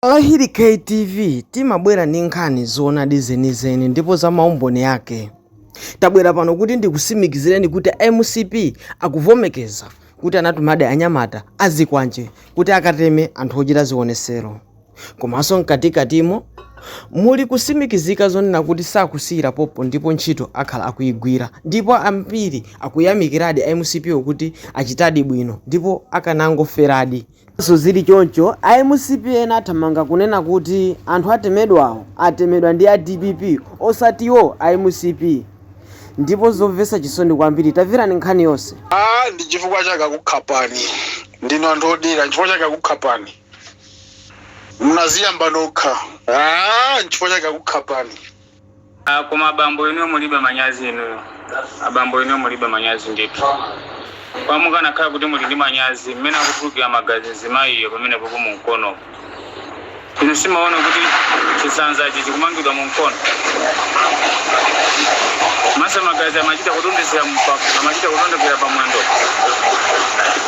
Alahiri K TV timabwera ndi nkhani zoonadi zenizeni ndipo za maumboni ake. Tabwera pano kuti ndikusimikizireni kuti a mcp akuvomekeza kuti anatumadi anyamata azikwanje kuti akateme anthu ochita zionesero. Komanso mkatikatimo muli kusimikizira zonena kuti sakusiyira pompo ndipo ntchito akhala akuyigwira ndipo ambiri akuyamikiradi a mcp wo kuti achitadi bwino ndipo akanangoferadi. Ngakhaleso zili choncho, a mcp ena athamanga kunena kuti anthu atemedwawo atemedwa ndi a dpp osati iwo a mcp ndipo zomvesa chisoni kwambiri taverani nkhani yonse. Aaa ndichifukwa chake akukhapani ndinu anthu odelera nchifukwa chake akukhapani munaziyamba nokha aah nchifukwa chake akukhapani. Ah koma abambo inuyo mulibe manyazi inuyo. Abambo inuyo mulibe manyazi ndithu. Koma mukanakhala kuti muli ndi manyazi mmene akutulukira magazi mzimayiyo pamenepopo mu mkonomo. Inu simaona kuti chisanzachi chikumangidwa mu mkono? Komanso magazi amachita kudondezera mpaka amachita kudondekera pa mwendo?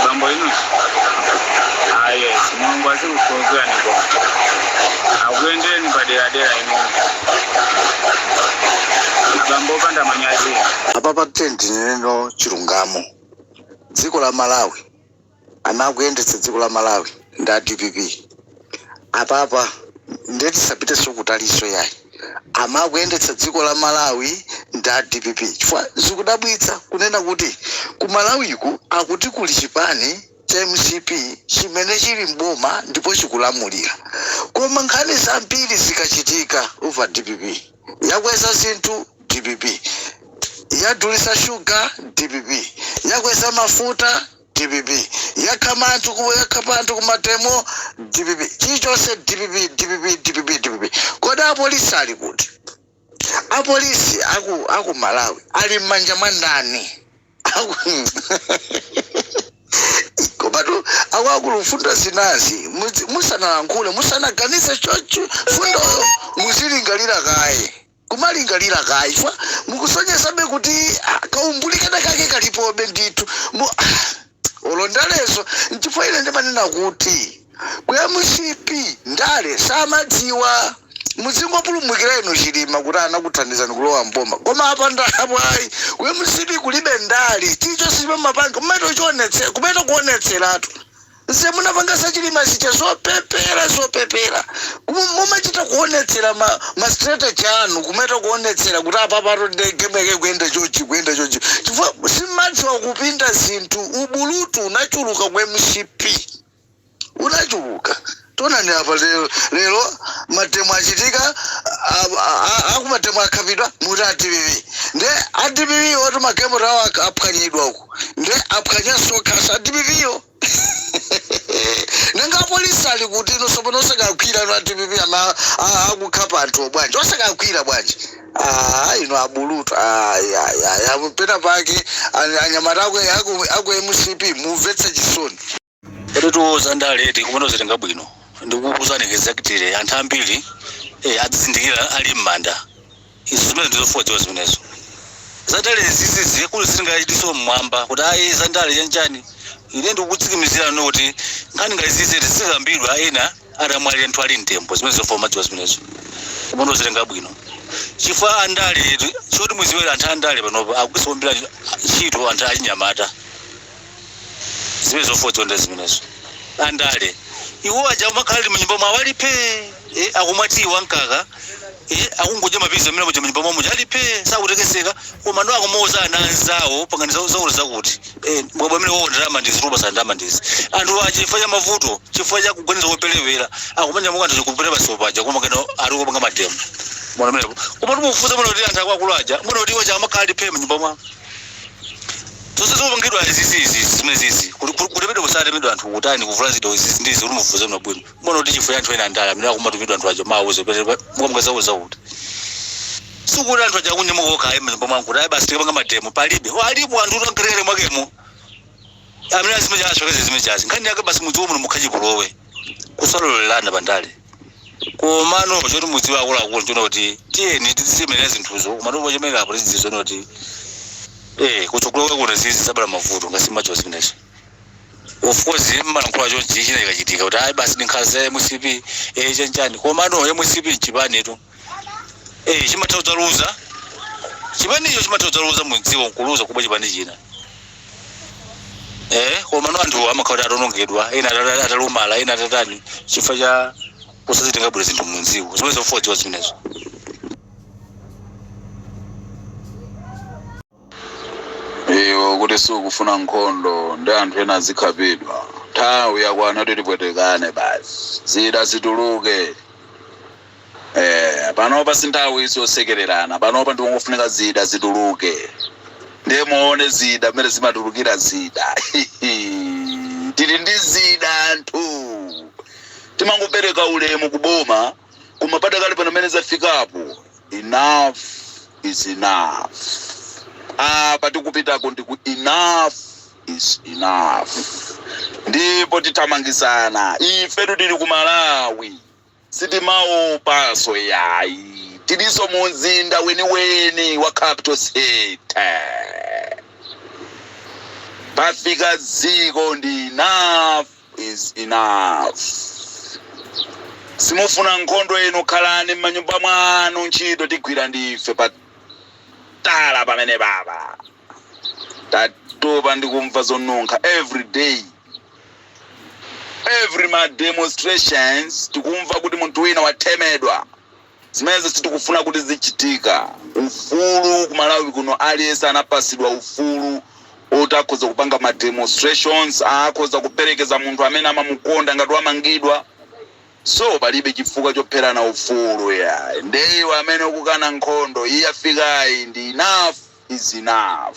Abambo inuyo. Ah yes Mulungu azi kuphunzirani koma akuyendereni paderadera inuyo abambo opanda manyazi inu. apapa tiyeni tinene chilungamo dziko la malawi amene akuyendetsa dziko la malawi ndi a dpp apapa ndiye tisapiteso kutaliso yayi amene akuyendetsa dziko la malawi ndi a dpp chifukwa zikudabwitsa kunena kuti ku malawiku akuti kuli chipani cha mcp chimene chili m'boma ndipo chikulamulira koma nkhani zambiri zikachitika umva dpp yakweza zinthu dpp yadulisa sugar dpp yakweza mafuta dpp yakhama anthu ku- yakhapa anthu kumademo dpp chilichonse dpp dpp dpp dpp kodi apolisi ali kuti apolisi aku aku malawi ali mmanja mwa ndani komatu akuluakulu mfundo zinazi muzi- musanalankhule musanaganize chocho mfundoyo muzilingalira kaye kumalingalira kaye chifukwa mukusonyezabe kuti ah, kaumbuli kena kake kalipobe ndithu Mu- olo ndalezo nchifukwa ine ndimanena kuti ku mcp ndale samadziwa muzingopulumukira inu chilima kuti anakuthandizani kulowa mboma koma apandapo ayi ku mcp kulibe ndale chilichonse chimene mumapanga mumaita kuchionetsera kumaita kuonetseratu nze munapanga za chilima zija zopepera zopepera mumachita kuonetsera ma, ma strategy anu kumachita kuonetsera kuti apapatu nde game yake ikuyenda chonchi ikuyenda chonchi chifukwa simadziwa kupinda zinthu ubulutu unachuluka ku mcp unachuluka tonani apa lero, lero mademo achitika a- a- a- akumademo akhapidwa mukuti adpp nde adpp oti magalimoto awo ak- aphwanyidwa uku nde aphwanyanso kaya adpp yo Nanga apolisi ali kuti inu sopano osakagwira a dpp ama a- akukhapa anthu bwanji osakagwira bwanji Ah, inu abulutu Ai, ai, ai, ai, pena pake an- anyamata aku, aku, aku mcp mumamvetsa chisoni Eetu zandalezi tikumazitenga bwino ndikukuuzani exactly anthu ambiri eh, adzizindikira ali m'manda Izo, zimenezo ndi zofunika kudziwa zimenezo. Zandalezi izizi akulu ziri ngati diso mmwamba, kuti, ayi, zandale, chanchani. Ine ndikukutsikimizirani inu kuti nkhani ngati izizi zidzizikambidwa ena atamwalira ndithu ali mtembo. Zimenezo ndi zofunika kumadziwa zimenezo. Kumazitenga bwino. Chifukwa andale, choti mudziwe anthu andale panopa akugwiritsa kwambiri ntchito anthu achinyamata. zimene zofunika kudziwa ndi zimenezo andale iwo aja amakhala ali mnyumba mwawo ali phee eh, akumwa tiyi wamkaka eh, akungodya mapizza amene muja mnyumba mwawo muja ali phee sakutekeseka koma nde akumauza ana anzawo pangani zawo- zawo zakuti eh, bwabwa amenewo ndalama ndizi roba sa ndalama ndizi anthu aja chifukwa cha mavuto chifukwa cha kuganiza kopelewera akumanyamuka anthu kupita basi paja koma kenako ali kupanga mademo mwana mlepo koma timufunsa mwana kuti anthu akuluakulu aja mwana kuti iwo aja amakhala ali phee mnyumba mwawo zonse zikupangidwa izizi izi zimene zizi kuti- kuti- kutemedwa kusatemedwa anthu kutani kuvulazidwa izizi ndizi kuti mufufuze bwinobwino muona kuti chifukwa anthu ena andale amene akumatuma anthu aja mawuze pete mukamukazauza kuti sikuti anthu aja akunyamuka okha ayi mnyumba mwawo kuti ayi basi tikapange mademo palibe alipo anthu oti akalowelere mwakemo amene azikasokoneza zimenezi nkhani yake basi mudziko muno mukhale chipolowe kusalolelana pandale komano choti mudziwe akuluakulu nchonena kuti tiyeni tizichemerera zinthuzo komano pochemerera apo tizidziwa kuti eh kutsogolo kwake kuja zidzizabala mavuto ngati zimenezo zimenezo of course mmalankhula chonchi china chikachitika kuti ayi basi ndi nkhanza za mcp eh chanchani komano mcp nchipanitu Ee chimatha kudzaluza chipanicho chimatha kudzaluza mudziko nkuluza kubwera chipani china ee komano anthu amakhala kuti ataonongedwa ena atata- atalumala ena atatani chifukwa cha kusazitenga bwino zinthu mudziko zimene zofunika kudziwa zimenezo iwo kuti sakufuna nkhondo ndi anthu ena azikhapidwa nthawi yakwana kuti tipwetekane basi zida zituluke eh, panopa si nthawi iyi yosekererana panopa ndikungofunika zida zituluke ndiye muone zida mmene zimatulukira zida tili ndi zida anthu timangopereka ulemu kuboma koma padakali pano mene zafikapo enough is enough apa tikupitako ndi ku enough is enough ndipo tithamangitsana ifetu tili ku malawi sitimaopanso yayi tilinso mu mzinda weniweni wa capital city pafika dzikoli ndi enough is enough simufuna nkhondo inu khalani m'manyumba mwanu ntchito tigwira ndife patala pamene baba tatopa ndikumva zonunkha every day every ma demonstrations tikumva kuti munthu wina wathemedwa Zimenezo sitikufuna kuti zizichitika. Ufulu ku Malawi kuno aliyense anapasidwa ufulu oti akhoza kupanga ma demonstrations, akhoza kuperekeza munthu amene amamukonda ngati wamangidwa. So palibe chifukwa chopherana ufulu yayi. Nde iwe amene ukukana nkhondo iyi yafikayi ndi enough is enough.